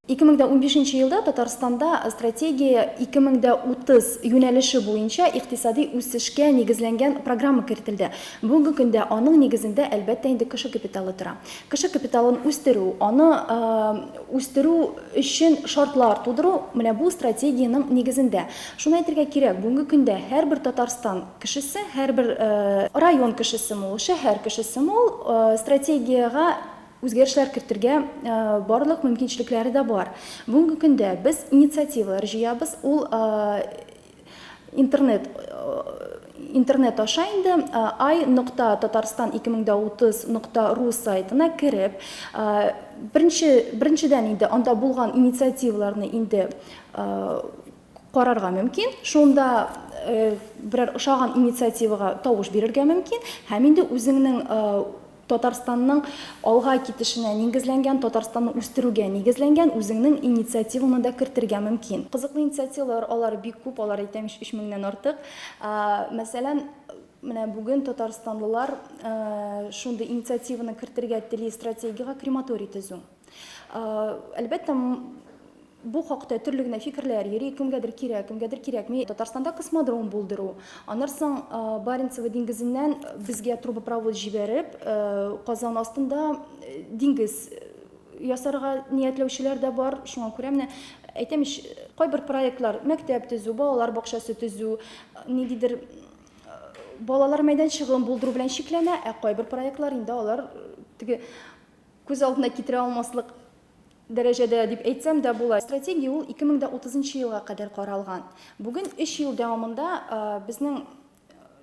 2015 елда Татарстанда стратегия 2030 юнәлеше буенча икътисади үсешкә нигезләнгән программа кертелде. Бүгенге көндә аның нигезендә әлбәттә инде кеше капиталы тора. Кеше капиталын үстерү, аны үстерү өчен шартлар тудыру менә бу стратегиянең нигезендә. Шуны әйтергә кирәк, бүгенге көндә һәрбер Татарстан Кешесе, һәрбер. Район кешесеме ул, шәһәр кешесеме ул, стратегиягә үзгәрешләр кертергә барлык мөмкинчелекләре дә бар. Бүгенге көндә без инициативалар җыябыз, ул интернет интернет аша инде I нокта Татарстан 2030 нокта ру сайтына кереп, беренче беренчедән инде анда булган инициативаларны инде карарга мөмкин, шунда берәр ошаган инициативага тавыш бирергә мөмкин һәм инде үзеңнең Татарстанның алга китешенә нигезләнгән, Татарстанны үстерүгә нигезләнгән үзеңнең инициативаңны да кертергә мөмкин. Кызыклы инициативалар, алар бик күп, алар әйтәм өч меңнән артык. Мәсәлән, менә бүген татарстанлылар шундый инициативаны кертергә тели, стратегиягә крематорий төзү. Әлбәттә, бу хакта төрле генә фикерләр йөри, кемгәдер кирәк, кемгәдер кирәкми. Татарстанда космодром булдыру, аннан соң Баренцево диңгезеннән безгә трубопровод җибәреп, Казан астында диңгез ясарга ниятләүчеләр дә бар. Шуңа күрә менә әйтәм ич, кайбер проектлар, мәктәп төзү, балалар бакчасы төзү, ниндидер балалар мәйданчыгын булдыру белән чикләнә, ә кайбер проектлар инде алар теге Күз алдына китерә алмаслык дәрәҗәдә дип әйтсәм дә була. Стратегия ул 2030 нчы елга кадәр каралган. Бүген өч ел дәвамында безнең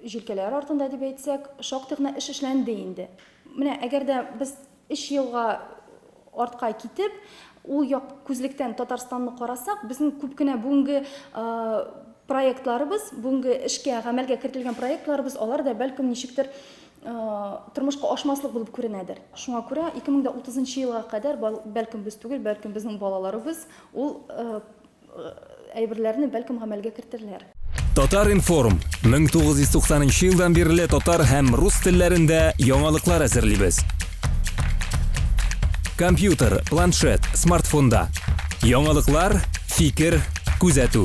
җилкәләр артында дип әйтсәк, шактый гына эш эшләнде инде. Менә әгәр дә без өч елга артка китеп, ул як күзлектән Татарстанны карасак, безнең күп кенә бүгенге проектларыбыз, бүгенге эшкә, гамәлгә кертелгән проектларыбыз, алар да бәлкем ничектер тормышка ашмаслык булып күренәдер. Шуңа күрә 2030 елга кадәр бәлкем без түгел, бәлкем безнең балаларыбыз ул әйберләрне бәлкем гамәлгә кертерләр. Татар-информ, 1990 елдан бирле татар һәм рус телләрендә яңалыклар әзерлибез. Компьютер, планшет, смартфонда. Яңалыклар, фикер, күзәтү.